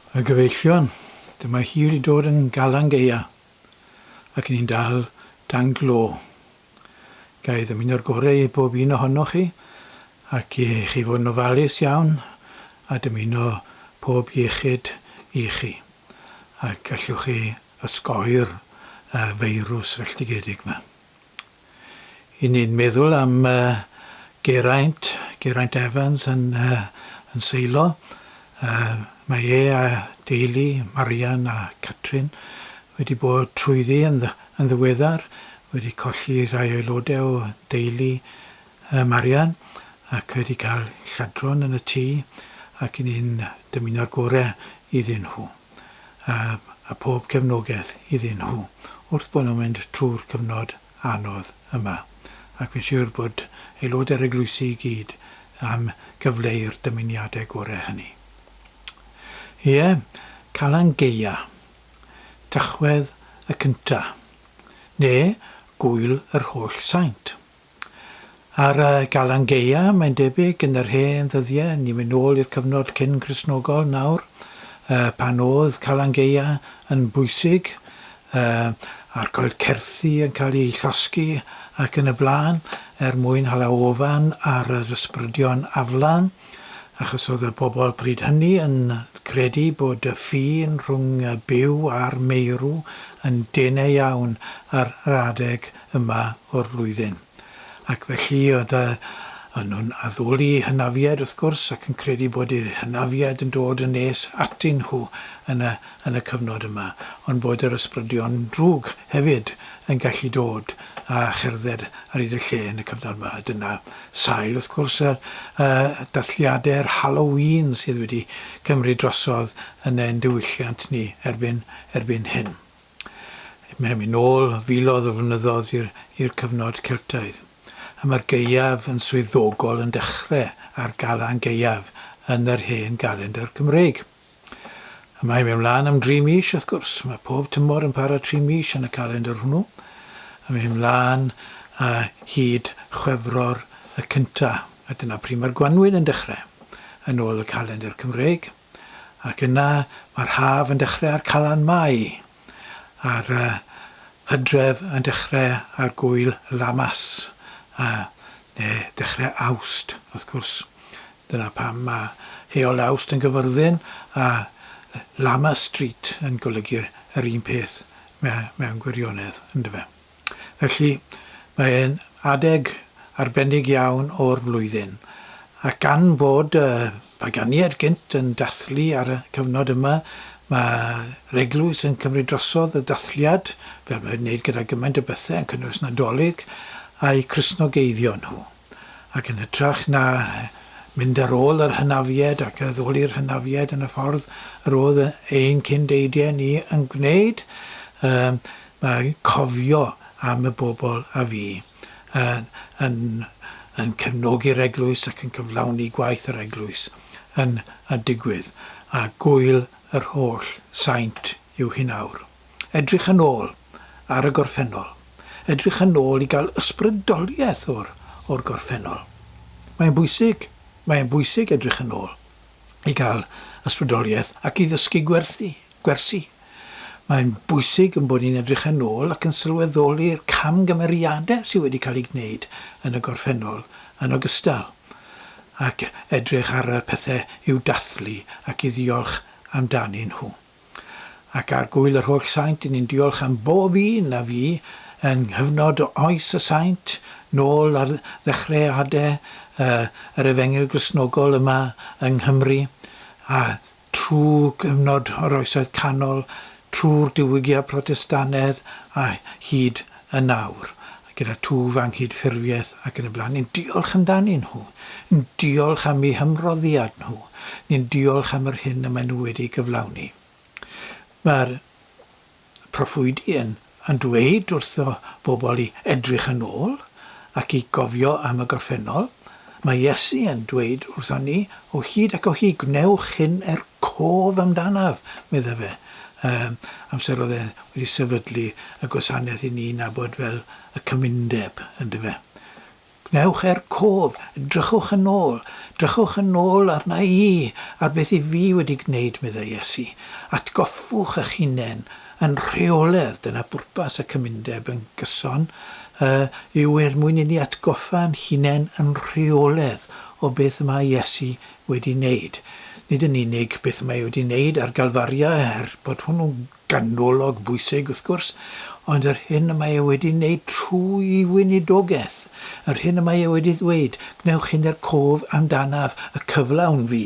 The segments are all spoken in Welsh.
Y gyfeillion, dyma hi wedi dod yn galang gaea ac yn i'n dal dan glo. Ga i ddymuno'r gorau i bob un ohonoch chi ac i chi fod yn ofalus iawn a dymuno pob iechyd i chi ac allwch chi osgoi'r feirws felldigedig 'ma. I ni'n meddwl am Geraint, Geraint Evans yn seilo, mae e a deulu, Marian a Catrin, wedi bod trwyddi yn ddiweddar, wedi colli rhai aelodau o deulu Marian ac wedi cael lladron yn y tŷ ac i ni'n dymuno'r gorau iddyn nhw. a phob cefnogaeth iddyn nhw wrth bod nhw'n mynd trwy'r cyfnod anodd yma, ac fi'n siwr bod aelodau'r eglwysi i gyd am gyfleu'r dymuniadau gorau hynny. Ie, Calan Gaea, Tachwedd y Cynta', neu Gŵyl yr Holl Saint. Ar y Galan Gaea, mae'n debyg, yn yr hen ddyddiau, ni'n mynd nôl i'r cyfnod cyn-Gristnogol nawr, pan oedd Calan Gaea yn bwysig, a'r coed certhi yn cael eu llosgi ac yn y blaen, er mwyn hala ofan ar yr ysbrydion aflan, achos oedd y bobl pryd hynny yn credu bod y ffin rhwng y byw a'r meirw yn dene iawn ar yr adeg yma o'r flwyddyn, ac felly dy yn nhw'n addoli hynafiaid wrth gwrs ac yn credu bod eu hynafiaid yn dod yn nes atyn nhw yn y yn y cyfnod yma, ond bod yr ysbrydion drwg hefyd yn gallu dod a cherdded ar hyd y lle yn y cyfnod yma. A dyna sail wrth gwrs y y dathliade'r Halloween sydd wedi cymryd drosodd yn ein diwylliant ni erbyn erbyn hyn. Mewn yn ôl filoedd o flynyddoedd i'r cyfnod Celtaidd, y mae'r gaeaf yn swyddogol yn dechrau ar Galan Gaeaf yn yr hen galendr Cymreig. Y mae mewn lan am dri mis, wrth gwrs. Mae pob tymor yn para tri mis yn y calendr hwnnw. Y mae hyn lan a hyd Chwefror y cynta, a dyna pryd mae'r gwanwyn yn dechrau, yn ôl y calendr Cymreig. ac yna mae'r haf yn dechrau ar Calan Mai, a'r uh, hydref yn dechrau ar Gŵyl Lammas, a neu dechrau Awst, wrth gwrs. Dyna pam mae Heol Awst yn gyfyrddin a Lammas Street yn golygu yr un peth mewn gwirionedd, ynddo fe? Felly, mae e'n adeg arbennig iawn o'r flwyddyn, ac gan fod y paganiaid gynt yn dathlu ar y cyfnod yma, mae'r eglwys yn cymryd drosodd y dathliad, fel mae'n wneud gyda gymaint o bethe, yn cynnwys Nadolig, a'u Cristnogeiddio nhw. ac yn hytrach na mynd ar ôl yr hynafiaid ac addoli'r hynafiaid yn y ffordd yr oedd ein cyn-deidie ni yn gwneud, um, mae cofio am y bobl a fi yn, yn, yn cefnogi'r eglwys ac yn cyflawni gwaith yr eglwys yn a digwydd, a gwyl yr holl saint yw hyn awr. edrych yn ôl ar y gorffennol, edrych yn ôl i gael ysbrydoliaeth o'r o'r gorffennol. Mae'n bwysig, mae'n bwysig edrych yn ôl i gael ysbrydoliaeth ac i ddysgu gwerthu, gwersi. Mae'n bwysig yn bod ni'n edrych yn ôl ac yn sylweddoli'r camgymeriadau sydd wedi cael eu gwneud yn y gorffennol yn ogystal ac edrych ar y pethau i'w dathlu ac i ddiolch amdanyn nhw. Ac ar gŵyl yr holl saint, ni'n diolch am bob un a fu yng nghyfnod oes y saint, nôl ar ddechreade yr efengyl Gristnogol yma yng Nghymru, a thrw gyfnod yr Oesoedd Canol, trw'r Diwygiad Protestannedd a hyd yn awr. gyda twf a nghydffurfiaeth ac yn y blaen, ni'n diolch amdanyn nhw, ni'n diolch am eu hymroddiad nhw, ni'n diolch am yr hyn y maen nhw wedi ei gyflawni. Mae'r proffwydi yn yn dweud wrtho bobl i edrych yn ôl ac i gofio am y gorffennol Mae Iesu yn dweud wrthon ni, O hyd ac o hyd, gwnewch hyn er cof amdanaf, medda fe, ym amser oedd e wedi sefydlu y gwasanaeth i ni'n nabod fel y Cymundeb, yndyfe? Gwnewch er cof, drychwch yn ôl, drychwch yn ôl arna i, ar beth i fi wedi gwneud, medda Iesu. Atgoffwch eich hunain Yn rheoledd, dyna bwrpas y cymundeb yn gyson, yy, yw er mwyn inni atgoffa'n hunain yn rheoledd o beth y mae Iesu wedi wneud. Nid yn unig beth y mae e wedi wneud ar Galfaria, er bod hwnnw'n ganolog bwysig, wrth gwrs, ond yr hyn y mae e wedi wneud trwy'i weinidogaeth, yr hyn y mae e wedi ddweud, Gwnewch hyn er cof amdanaf, y cyflawn fi.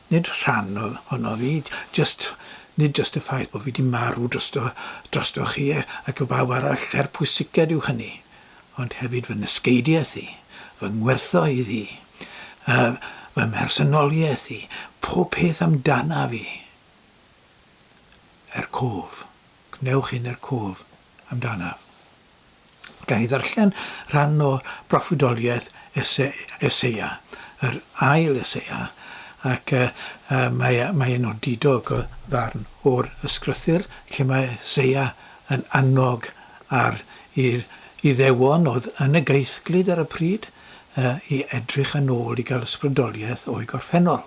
Nid rhan ohonof i, jyst Nid jyst y ffaith bod fi 'di marw drosto, drostoch chi ac i bawb arall, er pwysiced yw hynny, ond hefyd fy nysgeidiaeth i, fy ngwerthoedd i, fy mhersonoliaeth i, pob peth amdanaf i. Er cof. Gwnewch hyn er cof amdanaf. Ga i ddarllen rhan o broffwydoliaeth Eseia, yr ail Eseia, ac mae e'n odidog o ddarn o'r Ysgrythur lle mae Eseia yn annog ar yr Iddewon oedd yn y gaethglyd ar y pryd i edrych yn ôl i gael ysbrydoliaeth o'i gorffennol.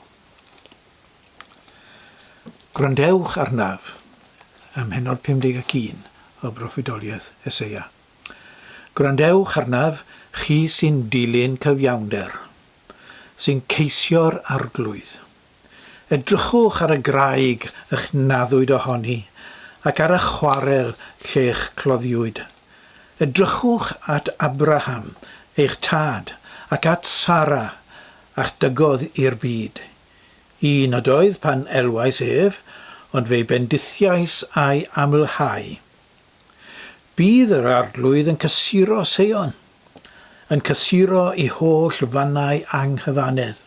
Gwrandewch arnaf, ym mhennod 51 o broffwydoliaeth Eseia. Gwrandewch arnaf, chi sy'n dilyn cyfiawnder, sy'n ceisio'r Arglwydd. Edrychwch ar y graig ych naddwyd ohoni, ac ar y chwarel lle'ch cloddiwyd. Edrychwch at Abraham, eich tad, ac at Sara, a'ch dygodd i'r byd, Y nod oedd pan elwais ef, ond fe'i bendithiais a'i amlhau. Bydd yr Arglwydd yn cysuro Seion, yn cysuro ei holl fannau anghyfannedd.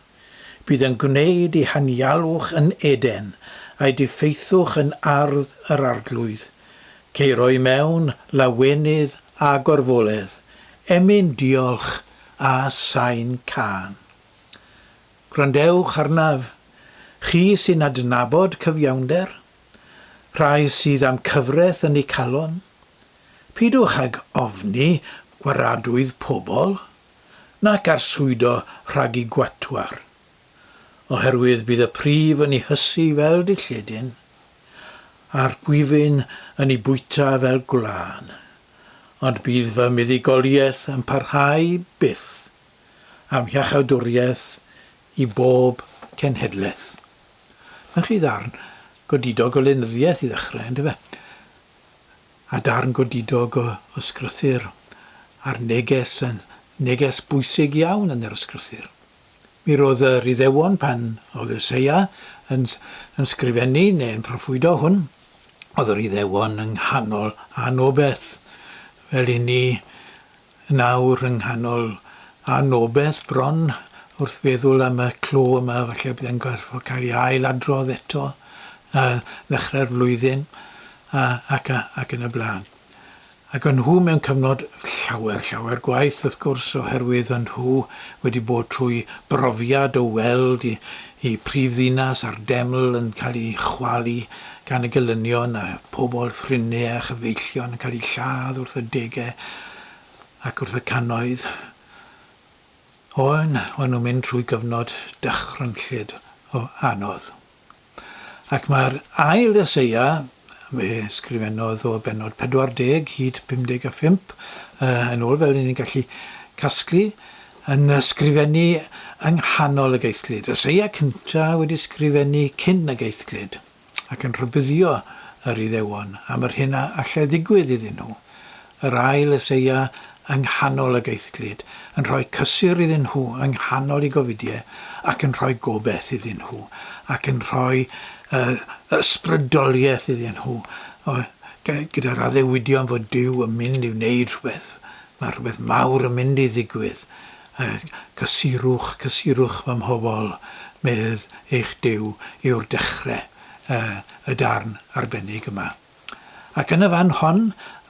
Bydd yn gwneud ei hanialwch yn Eden, a'i diffeithwch yn ardd yr Arglwydd. Ceiro i mewn, lawenydd a gorfoledd, emyn diolch a sain cân. Gwrandewch arnaf, chi sy'n adnabod cyfiawnder, rhai sydd â'm cyfraith yn eu calon. Peidiwch ag ofni gwaradwydd pobl, nac arswydo rhag eu gwatwar. Oherwydd bydd y prif yn eu hysu fel dilledyn, a'r gwifyn yn eu bwyta fel gwlân. Ond bydd fy muddugoliaeth yn parhau byth. am hiachawdwriaeth i bob cenhedlaeth. Mae chi ddarn godidog o lenyddiaeth i ddechrau, yn dyfe? A darn godidog o ysgrythyr, a'r neges yn neges bwysig iawn yn yr ysgrythyr. Mi roedd yr Iddewon pan oedd Eseia yn, yn sgrifennu neu'n proffwydo hwn, oedd yr Iddewon yng nghanol anobeth, fel i ni yn awr yng nghanol anobeth bron wrth feddwl am y clo yma, falle bydd e'n gorfod cael ei ail-adrodd eto ar ddechrau'r flwyddyn a, ac, a, ac yn y blaen. Ac o'n nhw mewn cyfnod llawer, llawer gwaeth wrth gwrs oherwydd o'n nhw wedi bod trwy brofiad o weld i, Y prifddinas a'r deml yn cael eu chwalu gan y gelynion a phobl Phryne a chyfeillion yn cael eu lladd wrth y degau ac wrth y cannoedd. Oen, o'n nhw'n mynd trwy gyfnod dychrynllyd o anodd. Ac mae'r ail Eseia, fe sgrifennodd o bennod 40 hyd 55, yn ôl fel 'yn ni'n gallu casglu, Yn ysgrifennu yng nghanol y geithglyd. Y seia cynta wedi sgrifennu cyn y geithglyd, ac yn rhybuddio yr Iddewon am yr hyn a allai ddigwydd iddyn nhw. Yr ail y seia yng nghanol y geithglyd, yn rhoi cysur iddyn nhw yng nghanol i gofidiau, ac yn rhoi gobeth iddyn nhw, ac yn rhoi y ysbrydoliaeth iddyn nhw, gyda'r addewidion fod Duw yn mynd i wneud rhywbeth Mae rhywbeth mawr yn mynd i ddigwydd. Cysurwch, cysurwch fy mhobl, medd eich Duw, yw'r dechrau y darn arbennig yma. Ac yn y fan hon,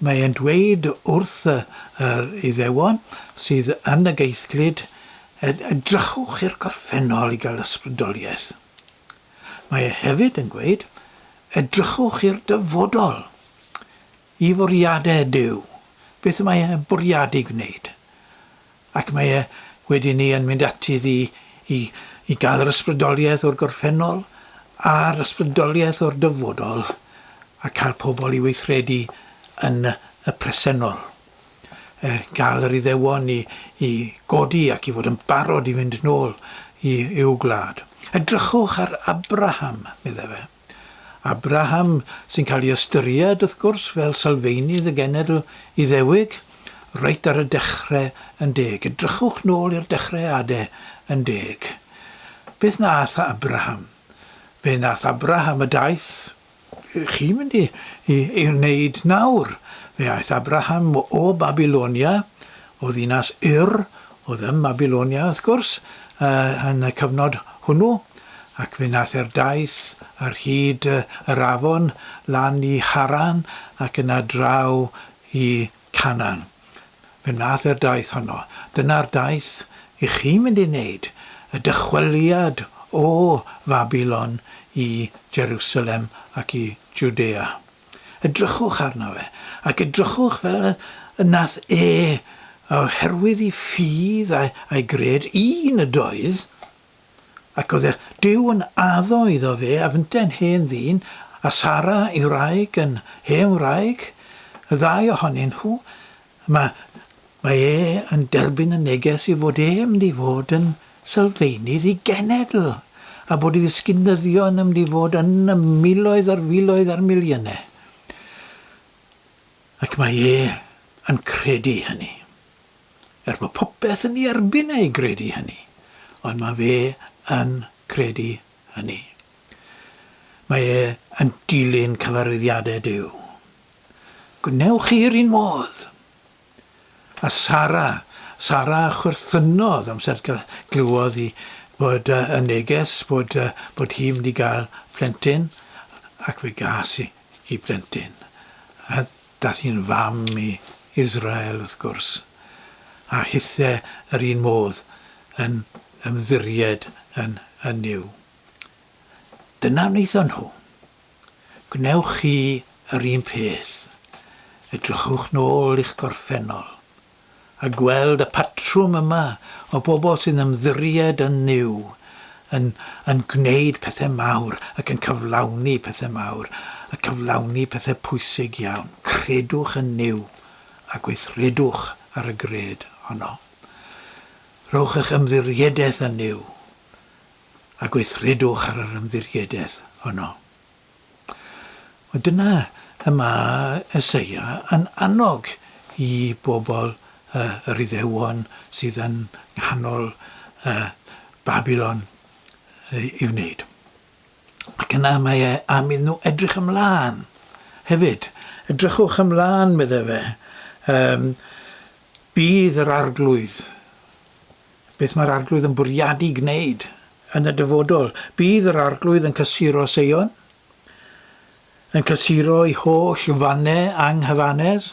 mae e'n dweud wrth yr Iddewon sydd yn y geithglyd, edrychwch i'r gorffennol i gael ysbrydoliaeth. Mae e hefyd yn gweud, edrychwch i'r dyfodol. Y bwriadau ydyw beth y mae e'n bwriadu gwneud, ac mae e wedi 'ny yn mynd ati iddi i i gael yr ysbrydoliaeth o'r gorffennol a'r ysbrydoliaeth o'r dyfodol, a cael pobl i weithredu yn y presennol. E, gael yr Iddewon i i godi ac i fod yn barod i fynd nôl i i'w gwlad. Edrychwch ar Abraham, medde fe. Abraham, sy'n cael ei ystyried, wrth gwrs, fel sylfeinydd y genedl Iddewig, reit ar y dechre yn deg. Edrychwch nôl i'r Dechreade yn deg. Beth wnaeth Abraham? Fe wnaeth Abraham y daeth chi'n mynd i, i, i wneud nawr. Fe aeth Abraham o Babylonia, o ddinas Ur, Oedd ym Mhabylonia, wrth gwrs, yn y cyfnod hwnnw, ac fe wnaeth e'r daith ar hyd yr afon lan i Haran ac yna draw i Canan. Fe wnaeth e'r daith honno. Dyna'r daith i chi mynd ei wneud, y dychweliad o Fabilon i Jerusalem ac i Jwdea. Edrychwch arno fe, ac edrychwch fel y nath e, oherwydd i ffydd a'i gred, un ydoedd, ac oedd eich Duw yn addo iddo fe a fynte'n hen ddyn, a Sara ei wraig yn hen wraig, y ddau ohonyn nhw, Yma, mae e yn derbyn y neges ei fod e'n mynd i fod yn sylfaenydd i genedl, a bod i ddysgu nyddio yn mynd i fod yn y miloedd ar filoedd ar miliynau. Ac mae e yn credu hynny. Er bod popeth yn ei erbyn e i gredu hynny, ond mae fe yn credu hynny. Mae e yn dilyn cyfarwyddiadau Duw. Gwnewch chi yr un modd! A Sara? Sara chwerthynodd amser glywodd hi bod y neges bod bod hi'n mynd i gael plentyn, ac fe gas hi hi blentyn. A daeth hi'n fam i Israel, wrth gwrs, a hithe yr un modd yn ymddiried yn yn Nuw. Dyna wnaethon nhw. Gwnewch chi yr un peth? Edrychwch nôl i'ch gorffennol a gweld y patrwm yma o bobl sy'n ymddiried yn Nuw, yn yn gwneud pethau mawr ac yn cyflawni pethau mawr a cyflawni pethau pwysig iawn. Credwch yn Nuw a gweithredwch ar y gred honno. Rhowch eich ymddiriedaeth yn Nuw. a gweithredwch ar yr ymddiriedaeth honno. Wel, dyna y mae Eseia yn annog i bobl uh, yr Iddewon sydd yn nghanol uh, Babylon uh, i wneud. Ac yna mae e am iddyn nhw edrych ymlaen hefyd. Edrychwch ymlaen, meddai fe. Um, bydd yr arglwydd Beth mae'r Arglwydd yn bwriadu gwneud yn y dyfodol? Bydd yr Arglwydd yn cysuro Seion, yn cysuro'i holl fannau anghyfanedd,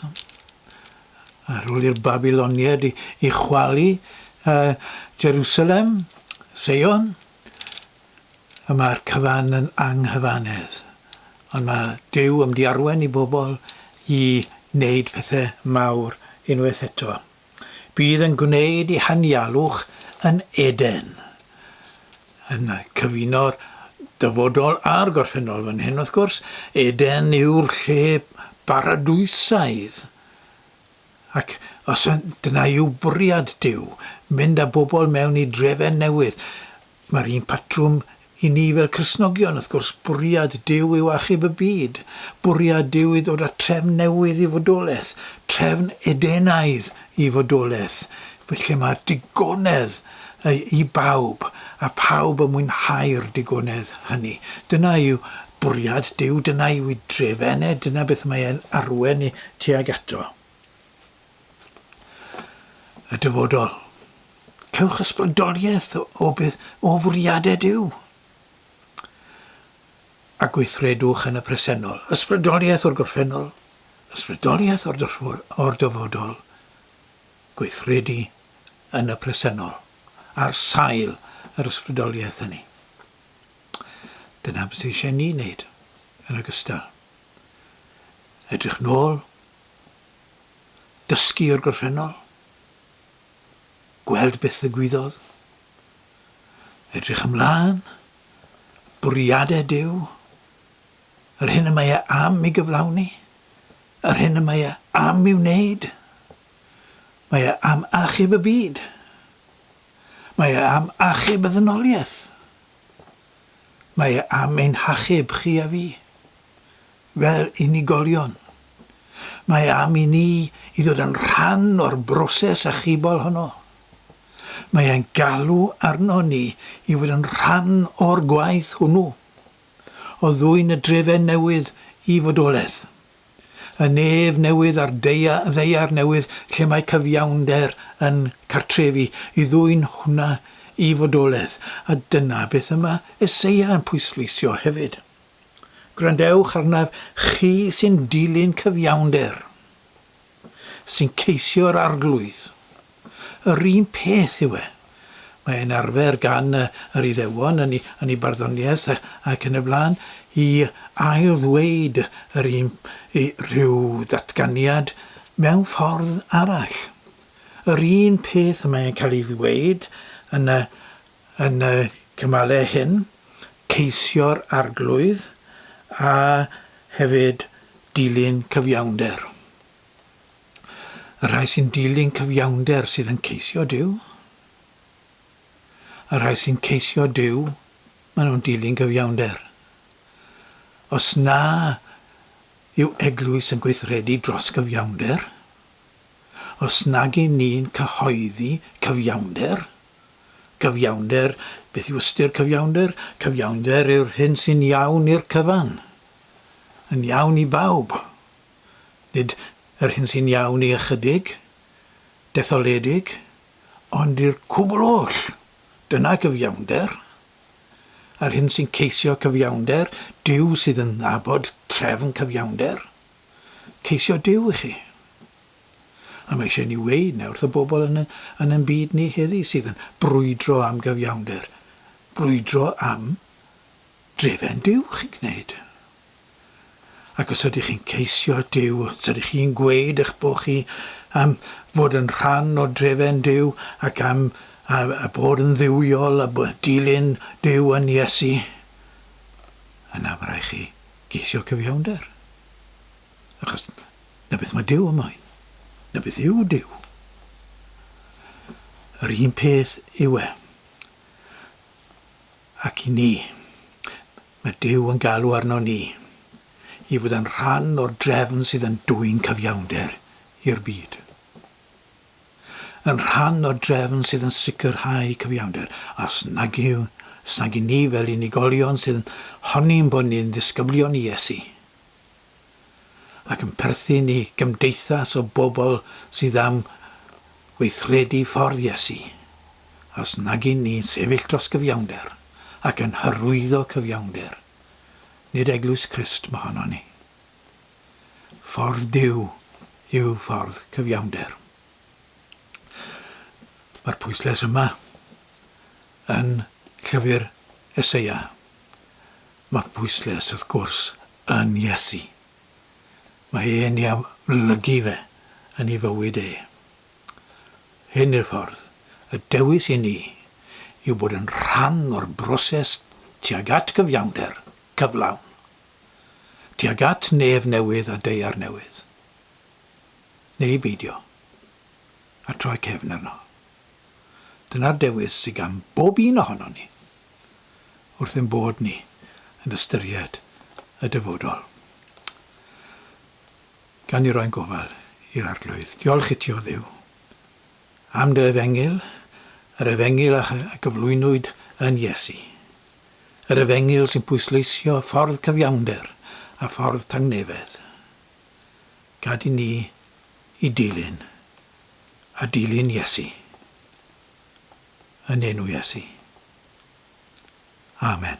ar ôl i'r Babyloniaid i, i chwalu uh, Jerusalem, Seion. Y mae'r cyfan yn anghyfanedd. Ond mae Dyw am diarwen i bobl i wneud pethau mawr unwaith eto. Bydd yn gwneud i hanialwch yn Eden, yn cyfuno'r dyfodol a'r gorffennol fan hyn wrth gwrs, Eden yw'r lle baradwysaidd ac os dyna yw bwriad Duw, mynd â bobl mewn i drefen newydd, Mae'r un patrwm i ni fel Cristnogion, wrth gwrs, bwriad Duw yw achub y byd. Bwriad Duw yw dod â trefn newydd i fodolaeth, trefn Edenaidd i fodolaeth, lle mae digonedd i bawb, a phawb yn mwynhau'r digonedd hynny. Dyna yw bwriad Duw, dyna yw ei dref ene, dyna beth mae e'n arwain ni tuag ato. y dyfodol. Cewch ysbrydoliaeth o beth o fwriadau Duw a gweithredwch yn y presennol. Ysbrydoliaeth o'r gorffennol, ysbrydoliaeth o'r, o'r dyfodol, gweithredu yn y presennol, ar sail yr ysbrydoliaeth hynny. Dyna beth sydd eisiau ni wneud yn ogystal. Edrych nôl dysgu o'r gorffennol, gweld beth ddigwyddodd, edrych ymlaen, bwriadau Duw, yr hyn y mae e am i gyflawni, yr hyn y mae e am i wneud. Mae e am achub y byd. Mae e am achub y ddynoliaeth. Mae e am ein hachub chi a fi. Fel unigolion, mae am i ni i ddod yn rhan o'r broses achubol honno. Mae e'n galw arnon ni i fod yn rhan o'r gwaith hwnnw, o ddwyn y drefen newydd i fodolaeth, y nef newydd a'r ddaear newydd lle mae cyfiawnder yn cartrefu, i ddwyn hwnna i fodolaeth, a dyna beth y mae Eseia yn pwysleisio hefyd. Gwrandewch arnaf, chi sy'n dilyn cyfiawnder, sy'n ceisio yr Arglwydd. Yr un peth yw e. Mae e'n arfer gan yr Iddewon yn ei, yn ei barddoniaeth ac yn y blaen, i ail-ddweud yr un, i rhyw ddatganiad mewn ffordd arall. Yr un peth mae e'n cael ei ddweud yn y Yn y cymalau hyn, ceisio'r Arglwydd a hefyd dilyn cyfiawnder. Y rhai sy'n dilyn cyfiawnder sydd yn ceisio Duw. Y rhai sy'n ceisio Duw, maen nhw'n dilyn cyfiawnder. Os na yw eglwys yn gweithredu dros gyfiawnder, os nag y'n ni'n cyhoeddi cyfiawnder, Cyfiawnder, beth yw ystyr cyfiawnder? Cyfiawnder yw'r hyn sy'n iawn i'r cyfan. Yn iawn i bawb. Nid yr hyn sy'n iawn i ychydig, detholedig, ond i'r cwbl oll. Dyna gyfiawnder. A'r hyn sy'n ceisio cyfiawnder, Duw sydd yn abod trefn cyfiawnder. Ceisio Duw i chi. A mae eisiau ni weud na wrth y bobl yn yn yn byd ni heddi sydd yn brwydro am gyfiawnder, brwydro am drefen Duw chi'n gwneud. Ac os ydych chi'n ceisio Duw, os ydych chi'n gweud eich bod chi am fod yn rhan o drefen Duw ac am a, a bod yn dduwiol a dilyn Duw yn Iesu, yna mae rhaid chi geisio cyfiawnder. Achos 'na beth mae Duw yn moyn. 'Na beth yw Duw. Yr un peth yw e. Ac i ni, mae Duw yn galw arno ni i fod yn rhan o'r drefn sydd yn dwyn cyfiawnder i'r byd. Yn rhan o'r drefn sydd yn sicrhau cyfiawnder. Os nag yw, os nag i ni fel unigolion sydd yn honi'n bod ni'n ddisgyblion i Iesu, ac yn perthyn i gymdeithas o bobl sydd am weithredu ffordd Iesu, os nag yn ni'n sefyll dros gyfiawnder ac yn hyrwyddo cyfiawnder, nid Eglwys Crist mohonon ni. Ffordd Duw yw ffordd cyfiawnder. Mae'r pwyslais yma yn llyfr Eseia. Mae pwyslais wrth gwrs yn Iesu. Mae e'n ei amlygu fe yn ei fywyd e. Hyn yw'r ffordd, y dewis i ni yw bod yn rhan o'r broses tuag at gyfiawnder cyflawn, tuag at nef newydd a daear newydd, neu beidio, a troi cefn arno. Dyna'r dewis sy gan bob un ohonon ni. wrth ein bod ni yn ystyried y dyfodol. Gan ni roi'n gofal i'r Arglwydd. Diolch iti, O Dduw, am dy efengyl, yr efengyl a gyflwynwyd yn Iesu. Yr efengyl sy'n pwysleisio ffordd cyfiawnder a ffordd tangnefedd. Gad i ni i dilyn a dilyn Iesu. yn enw Iesu. Amen.